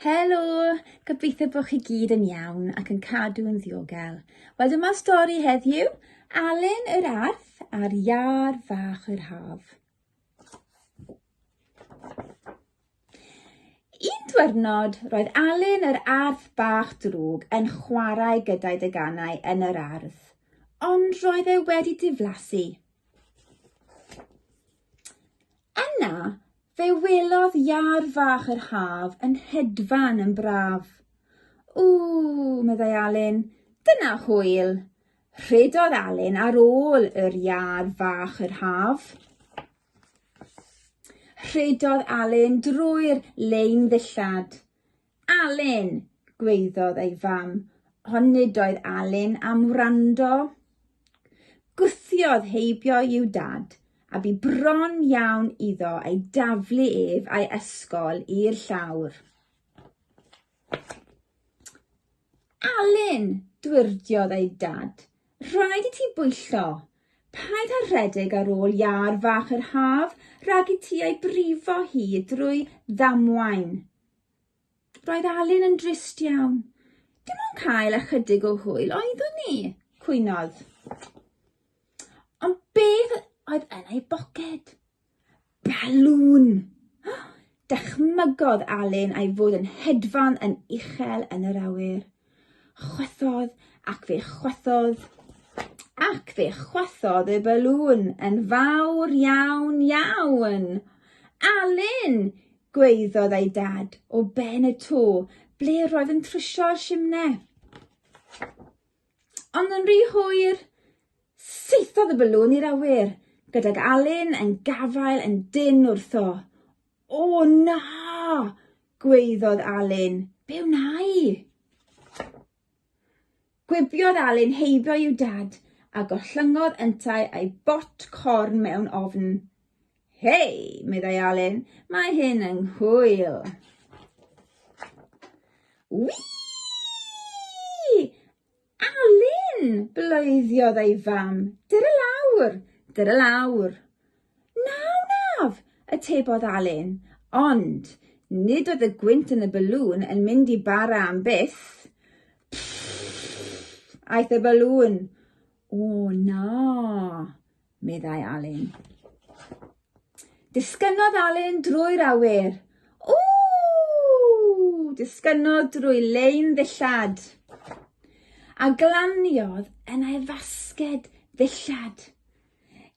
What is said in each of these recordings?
Helo! Gobeithio bod chi gyd yn iawn ac yn cadw yn ddiogel. Wel dyma stori heddiw, Alun yr Arth a'r Iâr Fach yr Haf. Un diwrnod, roedd Alun yr Arth Bach Drwg yn chwarae gyda'i deganau yn yr ardd, ond roedd e wedi diflasu. Yna, Fe welodd iâr fach yr haf yn hedfan yn braf. Ww, meddai Alun, dyna hwyl! Rhedodd Alun ar ôl yr iâr fach yr haf. Rhedodd Alun drwy'r lein ddillad. Alun! gwaeddodd ei fam, ond nid oedd Alun am wrando. Gwthiodd heibio i'w dad, a bu bron iawn iddo ei daflu ef a'i ysgol i'r llawr. Alun! dwyrdiodd ei dad, rhaid i ti bwyllo. Paid â rhedeg ar ôl iâr fach yr haf rhag i ti ei brifo hi drwy ddamwain. Roedd Alun yn drist iawn. Dim ond cael ychydig o hwyl oeddwn ni, cwynodd. Ond beth oedd yn ei boced? Balŵn! Dychmygodd Alun a'i fod yn hedfan yn uchel yn yr awyr. Chwythodd ac fe chwythodd ac fe chwythodd y balŵn yn fawr iawn iawn. Alun! gwaeddodd ei dad o ben y to ble roedd yn trwsio'r simne. Ond yn rhy hwyr, saethodd y balŵn i'r awyr, gydag Alun yn gafael yn dynn wrtho. O na! gwaeddodd Alun. Be wna i? Gwibiodd Alun heibio i'w dad a gollyngodd yntau a'i bot corn mewn ofn. Hei! meddai Alun, mae hyn yng nghwyl. Wii! Alun! bloediodd ei fam. Dur y lawr! Dur y lawr! Na wnaf! atebodd Alun. Ond, nid oedd y gwynt yn y balŵn yn mynd i bara am byth. Pffff! aeth y balŵn. O, na! meddai Alun. Disgynnodd Alun drwy'r awyr. Ww! Disgynnodd drwy lein ddillad. A glaniodd yn ei fasged ddillad.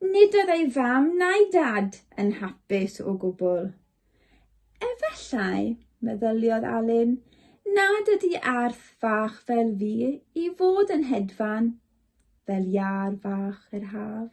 Nid oedd ei fam na'i dad yn hapus o gwbl. Efallai, meddyliodd Alun, nad ydy arth fach fel fi i fod yn hedfan fel iâr fach yr haf.